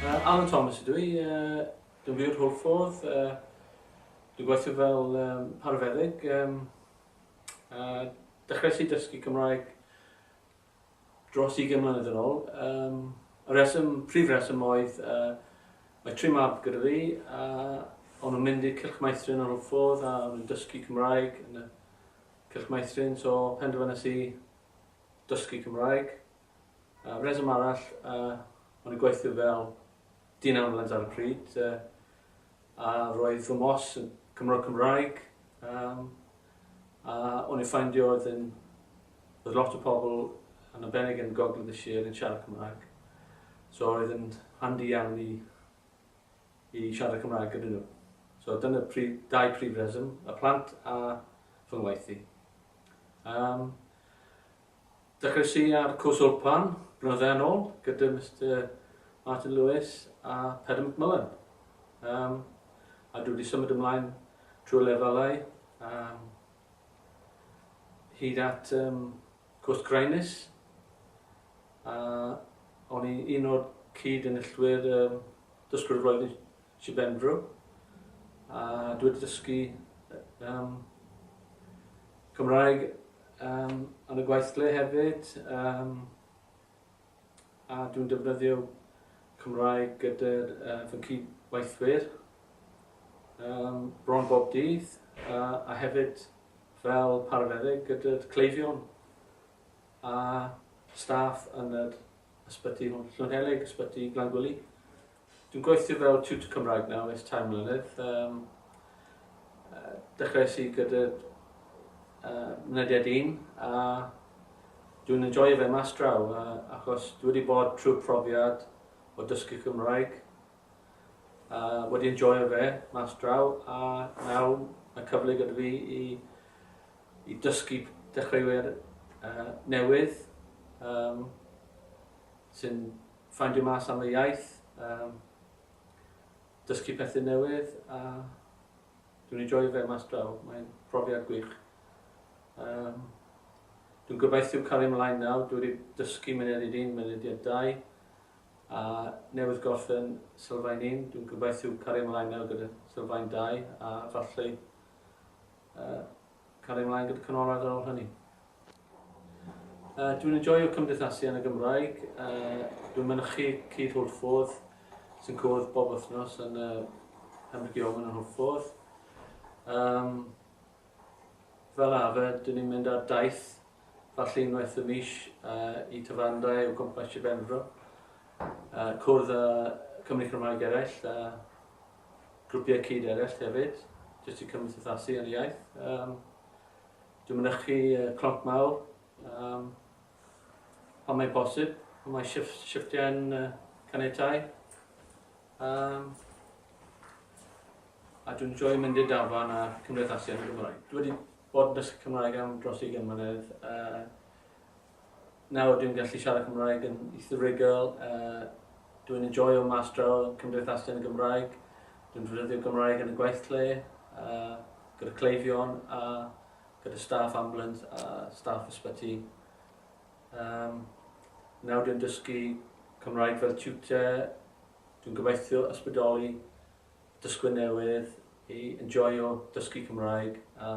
Yy, Alan Thomas ydw i, yy dwi'n byw yn Hwlffordd, yy dwi'n gweithio fel yym arfeddyg, yym a dechreuais i dysgu Cymraeg dros ugain mlynedd yn ôl. Yym y rheswm, prif rheswm oedd yy mae tri mab gyda fi a o'n nhw'n mynd i'r Cylch Meithrin yn Hwlffordd a o'n nhw'n dysgu Cymraeg yn y Cylch Meithrin, so penderfynais i dysgu Cymraeg. Yy reswm arall yy o'n i'n gweithio fel dyn ambulans ar y pryd yy a roedd fy mhos yn Cymro Cymraeg yym a o'n i'n ffaindio oedd yn oedd lot o pobl yn arbennig yn Gogledd y Sir yn siarad Cymraeg so oedd yn handi iawn i i siarad Cymraeg gyda nhw so dyna prif dau prif reswm y plant a fy ngwaith i. Yym. Dechreuais i ar cwrs Wlpan blynydde yn ôl gyda Mister Martin Lewis a Pedr McMullen. Um, a dwi wedi symud ymlaen trwy lefelau um, hyd at um, cwrs Graenus. A o'n i'n un o'r cyd yn illwyr um, dysgwyr y flwyddyn Sir Benfro. A dwi wedi dysgu um, Cymraeg Yym, yn y gweithle hefyd, yym, a dwi'n defnyddio Cymraeg gyda'r uh, fy cyd-weithwyr um, bron bob dydd, uh, a hefyd fel parafeddyg gyda'r cleifion a staff yn yr ysbyty Llwynhelig, ysbyty Glangwili. Dwi'n gweithio fel tutor Cymraeg nawr ers tair mlynedd. Um, uh, dechreuais i gyda uh, mynediad un a dwi'n enjoy fe mas draw uh, achos dwi wedi bod trwy profiad o dysgu Cymraeg uh, wedi enjoy fe mas draw a nawr mae cyfle gyda fi i, i dysgu dechreuwyr uh, newydd um, sy'n Ffeindio mas am y iaith, um, dysgu pethau newydd a dwi'n ei joio fe mas draw, mae'n profiad gwych. Um, dwi'n gobeithio cael ei mlaen nawr, dwi wedi dysgu mynediad un, mynediad dau, a newydd gorffen sylfaen un, dwi'n gobeithio cael ei mlaen nawr gyda sylfaen dau, a falle uh, Cario mlaen gyda canolradd ar ôl hynny. Dwi'n enjoio cymdeithasu yn y Gymraeg. Dwi'n mynychu Cudd Hwlffordd sy'n cwrdd bob wythnos yn y Pembroke Yeoman yn Hwlffordd. Um, fel arfer, dyn ni'n mynd ar daith falle unwaith y mis uh, i tyfandau o gwmpas Sir Benfro. Uh, cwrdd â Cymru Cymraeg eraill a grwpiau cyd eraill hefyd, jyst i cymdeithasu yn y iaith. Um, dwi'n mynychu uh, clonc mawr, um, pan mae'n bosib, pan mae shift, shiftiau'n uh, canetau. Um, a dwi'n joio mynd i'r dafarn a cymdeithasu yn y Gymraeg. Dwi wedi bod yn dysgu Cymraeg am dros 20 mlynedd. Uh, Nawr dwi'n gallu siarad Cymraeg yn eithriigol, a dwi'n enjoio mas draw, cymdeithasau yn y Gymraeg, dwi'n defnyddio Gymraeg yn y gweithle, a gyda cleifion, a gyda staff ambulans a staff ysbyty. Um, nawr dwi'n dysgu Cymraeg fel tutor, dwi'n gobeithio ysbrydoli dysgwyr newydd i enjoio dysgu Cymraeg a